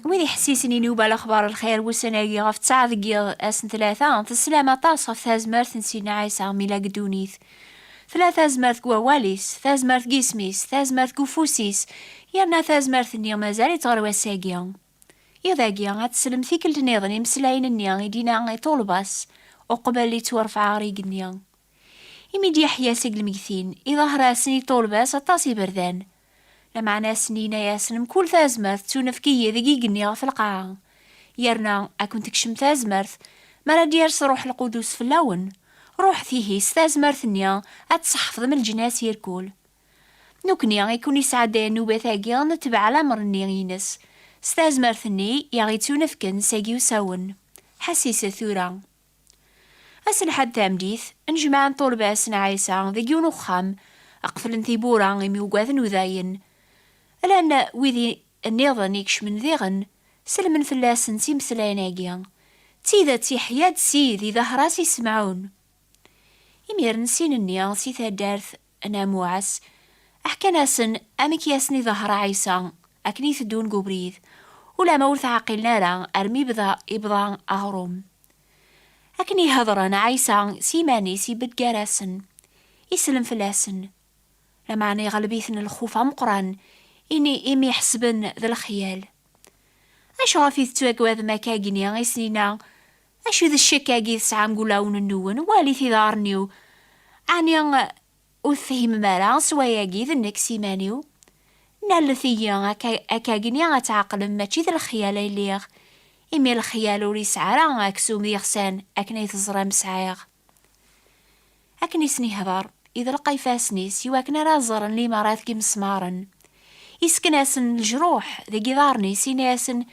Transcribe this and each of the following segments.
wid iḥessisen i nuba lexbar lxir wussan-agi ɣef ttaɛ deg yiḍ ass n tlata teslam aṭas ɣef tazmert n sidna ɛisa mila deg ddunit tella tazmert deg wawal-is tazmert deg isem-is tazmert deg ufus-is yerna tazmert-nni mazal-itt ɣer wass-agi iḍ-agi ad teslem tikkelt niḍen imeslayen-nni i d-ina i ṭulba-s uqbel yettwarfeɛ ɣer igenni imi d-yeḥya seg lmegtin iḍahra-sen i ṭulba-s aṭas iberdan Lameɛna ass-nni yenna-yasen, Mkul tazmert tettunefk-iyi deg yigenni ɣef lqaɛa, yerna ad kent-tekcem tazmert mi ara d-yers Ṛṛuḥ Lqudus fell-awen, ṛuḥet ihi s tazmert-nni ad tseḥfḍem leǧnas irkul. Nekkni i ken-yesɛeddayen nnubat-agi ad netbeɛ lameṛ-nni ines, s tazmert-nni i aɣ-yettunefken sagi usawen. Ḥesset tura! Ass n lḥad tameddit, nnejmaɛen tulbas n Ɛisa deg yiwen uxxam, qeflen tiwwura imi ugaden udayen. Llan wid nniḍen i kecmen diɣen, sellmen fell-asen s imeslayen-agi, D tidet yeḥya-d Ssid, idehher-as i Semɛun. Imiren sin-nni si taddart Nna Muɛas ḥkan-asen amek i asen-iḍehher Ɛisa akken i teddun deg ubrid, ulamma ur tɛeqqilen ara armi bda ibḍa aɣrum. Akken i hedren, Ɛisa s yiman-is ibedd gar-asen, isellem fell-asen. Lameɛna iɣleb-iten lxuf ameqqran ini imi ḥesben d lexyal. Acuɣef i tettwagadem akka akken i sen-inna Acu d ccek-agi i tesɛam deg wulawen-nwen? Walit iḍarren-iw. Ɛni ur tefhimem ara s wayagi d nekk s iman-iw? Nallet-iyi akkagni ad tɛeqlem mačči d lexyal ay liɣ, imi lexyal ur yesɛi ara aksum d iɣsan akken ay teẓram sɛiɣ. Akken i sen-ihder, iḍelq ifassen-is i wakken ara ẓren limarat deg yimesmaren. Yessken-asen lejruḥ deg yiḍarren-is, yenna-asen,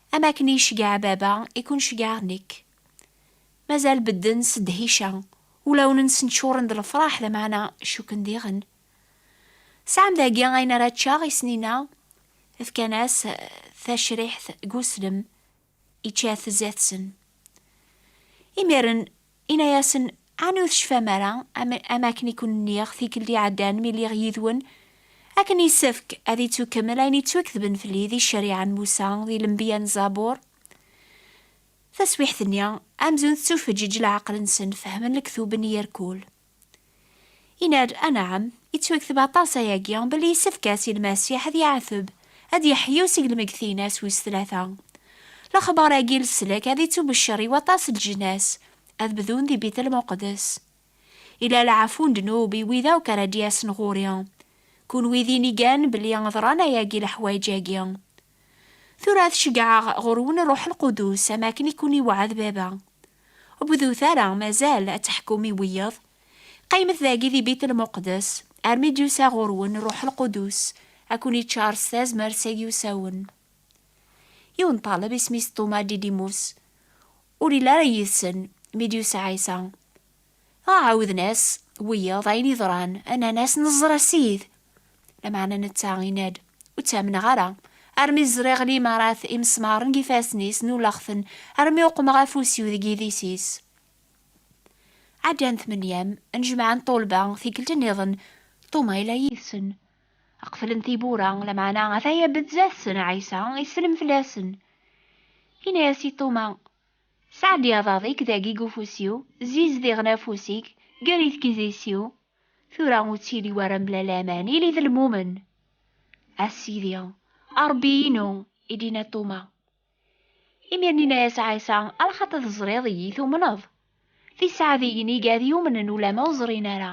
Am akken i iceggeɛ baba i ken-ceggɛeɣ nekk. Mazal bedden s ddhica, ulawen-nsen ččuren d lefraḥ lameɛna cukken diɣen. Sɛan dagi ayen ara ččeɣ i Snina, fkan-as tacriḥt g uslem, ičča-t zdat-sen. Imiren Inna-yasen, Ɛni ur tecfam ara, am, am akken i ken-nniɣ tikkelt iɛeddan mi lliɣ yid-wen, akken yessefk ad ittukkemmel ayen ittwaketben fell-i di ccariɛa n Musa, di lenbiya n Zabur? Taswiḥt-nni, amzun tettufeǧǧiǧ leɛqel-nsen, fehmen lektub n Yirkul. Yenna-d, Anɛam, yettwekteb aṭas ayagi belli yessefk-as i Lmasiḥ ad yeɛteb, ad yeḥyu seg lmeggtin-as wis tlata. Lexbar-agi n leslak ad ittubeccer i waṭas n leǧnas, ad bdun di Bit Lmuqeddes. Ila lɛafu n ddnub i wid akk ara d-yasen ɣur-i. Kunwi d inigan belli ḍran ayagi leḥwayeǧ-agi. Tura ad ceggɛeɣ ɣur-wen Ṛṛuḥ Lqudus, am akken i kkun-iweɛɛed Baba. Ur bdut ara, mazal, ad teḥkum i wiyeḍ. Qqimet dagi di Bit Lmuqdes, armi d-yusa ɣur-wen Ṛṛuḥ Lqudus, ad kkun-iččar s tazmert s ayyusawen. Yiwen n ṭṭaleb isem-is Ṭuma Didimus, ur yelli ara yid-sen mi d-yusa Ɛisa. Dɣa ɛawden-as wiyaḍ ayen yeḍran, nnan-as, Neẓra Ssid! Lameɛna netta yenna-d, Ur ttamneɣ ara, armi ẓriɣ limarat imesmaren deg yifassen-is, nnuleɣ-ten, armi uqmeɣ afus-iw deg yidis-is. Ɛeddan tmenyam n jmaɛ n ṭṭulba, tikkelt nniḍen, Tuma yella yid-sen. Qeflen tiwwura, lameɛna ata-ya Bezzat-sen, Ɛisa, isellem fell-asen. Yenna-as i Tuma, Sɛeddi aḍad-ik dagi deg ufus-iw, zziz diɣen afus-ik, gerr-it deg idis-iw, tura ur ttili wara mebla laman, ili d lmumen! A Sidi, a Ṛebbi-inu, i d-yenna Ṭuma. Imir n yenna-yas Ɛisa, A lxaṭi teẓriḍ iyi, tumneḍ? D iseɛdiyen i gad yumnen ulamma ur ẓrin ara.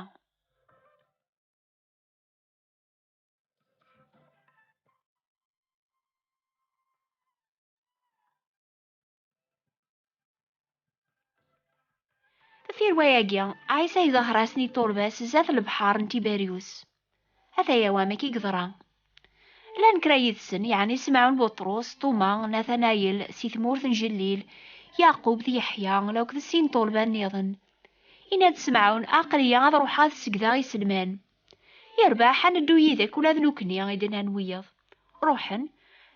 Tirwa-agi, Ɛisa iḍehher-asen i turbas zdat lebḥer n Tiberius. Ataya wamek i yeḍra. Llan kra yid-sen, yeɛni Simɛun Buṭrus, Tuma, Natanayel, si tmurt n Jellil, Yaqub d Yeḥya, law d sin n tulba nniḍen. Yenna-d Simɛun, Aql-iyi ad ruḥeɣ ad segdeɣ iselman. Yerbeḥ, ad neddu yid-k ula d nekkni, i d-nnan wiyaḍ. Ruḥen,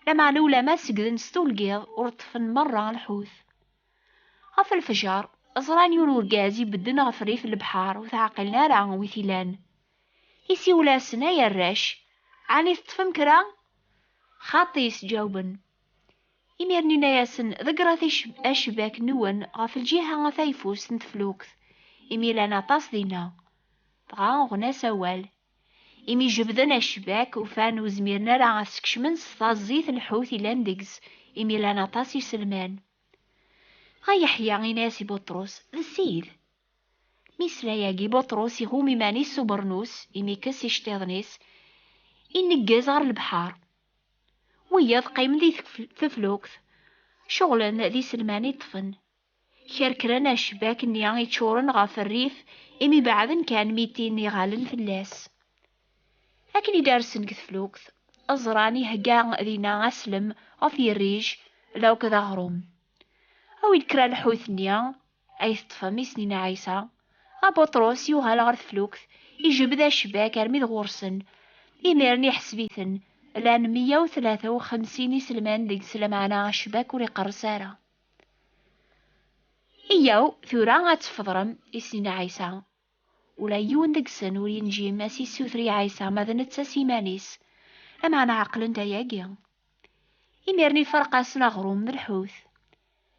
lameɛna ulamma segden s tulgiḍ ur ṭṭfen merra lḥut. Ɣef lfejer, ẓran yiwen urgaz ibedden ɣef rrif n lebḥer ur t-ɛqilen ara wi t-ilan. Isiwel-asen, Ay arrac, ɛni teṭṭfem kra? Xaṭi, sǧawben. Imiren inna-yasen, Ḍeggṛet acebbak-nwen ɣef lǧiha a tayeffust n teflukt, imi llan aṭas dinna. Dɣa uɣen-as awal. Imi jebbden acebbak, ufan ur zmiren ara a t-skecmen s taẓẓit n lḥut yellan deg-s, imi llan aṭas iselman. Dɣa Yeḥya inna-yas i Buṭrus, D Ssid! Mi yesla yagi Buṭrus, iɣum iman-is s ubernus, imi yekkes iceṭṭiḍen-is, ineggez ɣer lebḥeṛ, Wiyaḍ qqimen di teflukt, ceɣlen d iselman iṭṭfen kerkren acebbak-nni iččuren ɣef rrif imi beɛden kan mitin iɣallen fell-as. Akken i d-rsen deg teflukt, ẓran ihegga dinna aslem ɣef yirrij d akk d aɣrum. Awi-d kra lḥut-nni, Ay teṭṭfem isni n Ɛisa! A Buṭrus, yuɣal ɣer teflukt, ijbed acbak armi d ɣur-sen. Imiren iḥseb-iten, llan meyya u tlata u xemsin iselman deg-s lameɛna acbak ur iqerres ara. Iyyaw tura ad tefḍrem isni n Ɛisa! Ula yiwen deg-sen ur yenǧi ma s-issuter i Ɛisa ma d netta s iman-is. Lameɛna ɛeqlen-d ayagi. Imiren iferq-asen aɣrum d lḥut.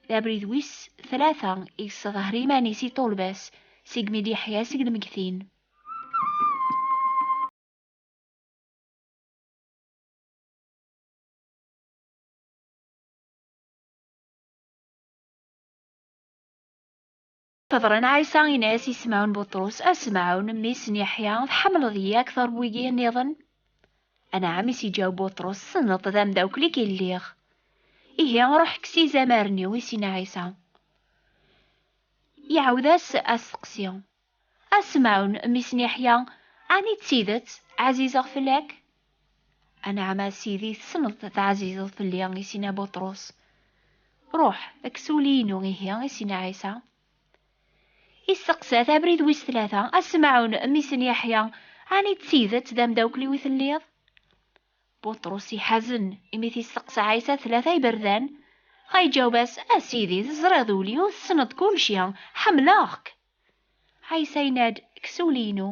D abrid wis tlata i yesseḍher iman-is i ṭṭulba-s segmi i d-yeḥya seg lmeggtin. Teḍra n Ɛisa in-as i Semɛun Buṭrus, A Semɛun, mmi-s n Yeḥya, tḥemmleḍ-iyi akteṛ n wigi nniḍen? Anɛam, is iǧaw Buṭrus, tessneḍ-t d amdawkel-ik i lliɣ. Ihi, ruḥ kkes izamaren-iw, is in Ɛisa. Iɛawed-as asteqsi, A Semɛun, mmi-s n Yeḥya, ɛni d tidet ɛzizeɣ fell-ak? Anɛam a Sidi, tessneḍ teɛzizeḍ fell-i, is-inna Buṭrus. Ruḥ, kkes ul-inu, ihi, is-inna Ɛisa. Isteqsa-t abrid wis tlata, A Semɛun, mmi-s n Yeḥya, ɛni d tidet d amdawkel-iw i telliḍ? Buṭrus iḥazen, imi t-isteqsa Ɛisa tlata iberdan. Dɣa iǧaweb-as, A Sidi, teẓriḍ ul-iw, tessneḍ kulci, ḥemmleɣ-k! Ɛisa yenna-d, Kkes ul-inu.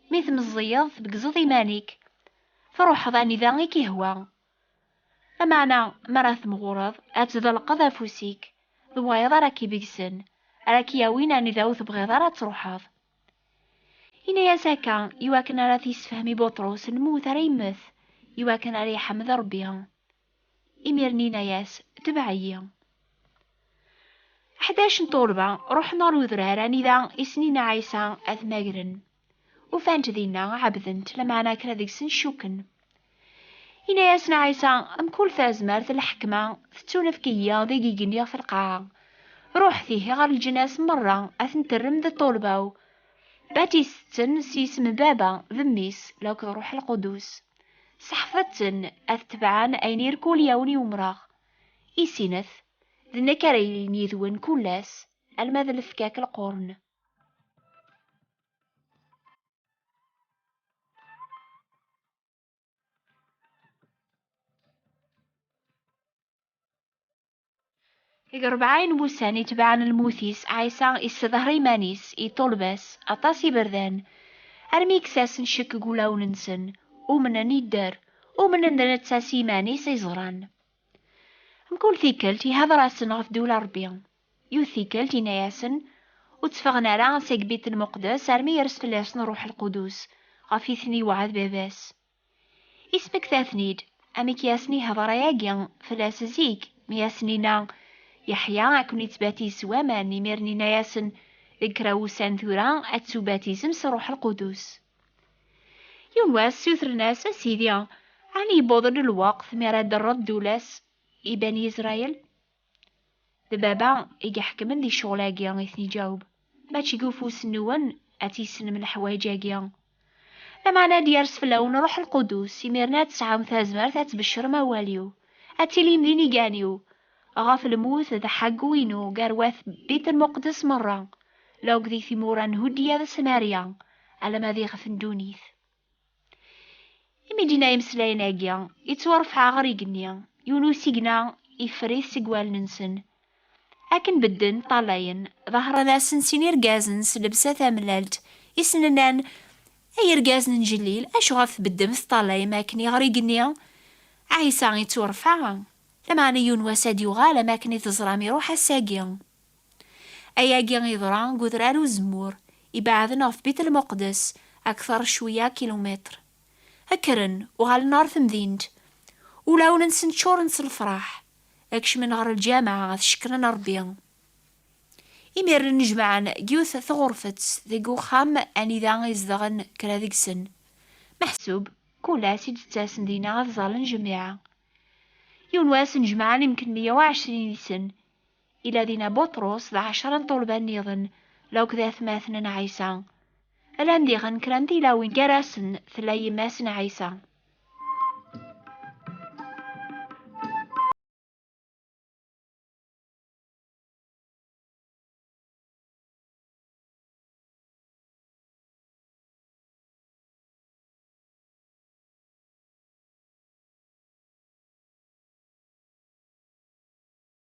Mi tmeẓẓiyeḍ, tbeggzeḍ iman-ik, truḥeḍ anida i k-ihwa. Lameɛna mi ara temɣureḍ, ad tḍelqeḍ afus-ik, d wayeḍ ara k-ibeggsen, ara k-yawin anida ur tebɣiḍ ara ad truḥeḍ. Yenna-as akka iwakken ara t-yessefhem i Buṭrus lmut ara yemmet iwakken ara iḥmed Rebbi. Imir-nni inna-yas, Tebɛ-iyi. Ḥdac n tuɣelba ruḥen ɣer udrar anida i Snin Ɛisa ad t-magren. Ufan-t dinna, ɛebden-t, lameɛna kra deg-sen cukken. Inna-yasen Ɛisa, Mkul tazmert n lḥekma tettunefk-iyi deg igenni ɣef lqaɛa. Ruḥet ihi ɣer leǧnas merra, ad ten-terrem d ṭṭulba-w, batiset-ten s yisem n Baba, d Mmi-s, lakk d Ṛuḥ Lqudus. Seḥfeḍ-ten ad tebɛen ayen i rkulyawen i umreɣ. I sinet, d nekk ara yilin yid-wen kull ass, alma d lefkak lqurn. Deg rebɛa n wussan itebɛen lmut-is, Ɛisa issedher iman-is, iṭuleb-as, aṭas iberdan, armi kkes-asen ccekk deg wulawen-nsen, umnen, idder, umnen d netta s yiman-is, i ẓran. Mkul tikkelt ihder-asen ɣef ddula n Rebbi. Yiwet tikkelt inna-yasen, Ur tteffɣen ara seg Bit Lmuqdes armi yers fell-asen Ṛṛuḥ Lqudus, ɣef i ten-iwɛed Baba-s. Ismekta-ten-id, amek i asen-ihder ayagi fell-as zik, mi asen-inna, Yeḥya ad ken-ittbatiz s waman, imiren inna-yasen, Deg kra wussan tura ad tettubatizem s Ṛṛuḥ Lqudus. Yiwen wass ssutren-as, A Sidi, ɛni yewweḍ-d lweqt mi ara d-terreḍ ddula-s i Bani Israel? D baba i iḥekmen di ccɣel-agi, i ten-iǧaweb, mačči deg ufus-nwen ad tissnem leḥwayeǧ-agi. Lameɛna ad yers fell-awen Ṛuḥ Lqudus, imiren ad tesɛum tazmert ad tbeccrem awal-iw, ad tilim d inigan-iw, ɣef lmut d ḥaggu-inu gar wat Bit-Lmuqdes meṛṛa, la akked i timura n Huddiya d Samarya, alamma d iɣef n ddunit. Imi d-inna imeslayen-agi, ittwarfeɛ ɣer igenni, yiwen usigna iffer-it seg wallen-nsen. Akken bedden, ṭṭalayen, ḍehren-asen sin irgazen s lebsa tamellalt, i sen-nnan, Ay irgazen n Jellil, acuɣef tbeddem teṭṭalayem akken i ɣer igenni? Ɛisa ittwarfeɛ, lameɛna yiwen wass ad d-yuɣal am akken i teẓram iruḥ ass-agi. Ayagi yeḍra deg Udrar Uzemmur, ibeɛden ɣef Bit Lmuqdes akteṛ cweyya kilumitṛ. Kkren, uɣalen ɣer temdint, ulawen-nsen ččuṛen s lefṛaḥ, kecmen ɣer lǧameɛ ad cekkren Ṛebbi. Imiren nnejmaɛen deg yiwet tɣurfet deg uxxam anida i zedɣen kra deg-sen. Meḥsub, kul ass i d-ttasen dinna ad ẓallen jamiɛa. Yiwen wass nnejmaɛen imekli meyya u ɛecrin yid-sen. Ila dinna Buṭrus d ɛecra n ṭṭulba nniḍen, law-k d atmaten n Ɛisa. Llan diɣen kra n tilawin gar-asen tella yemma-s n Ɛisa.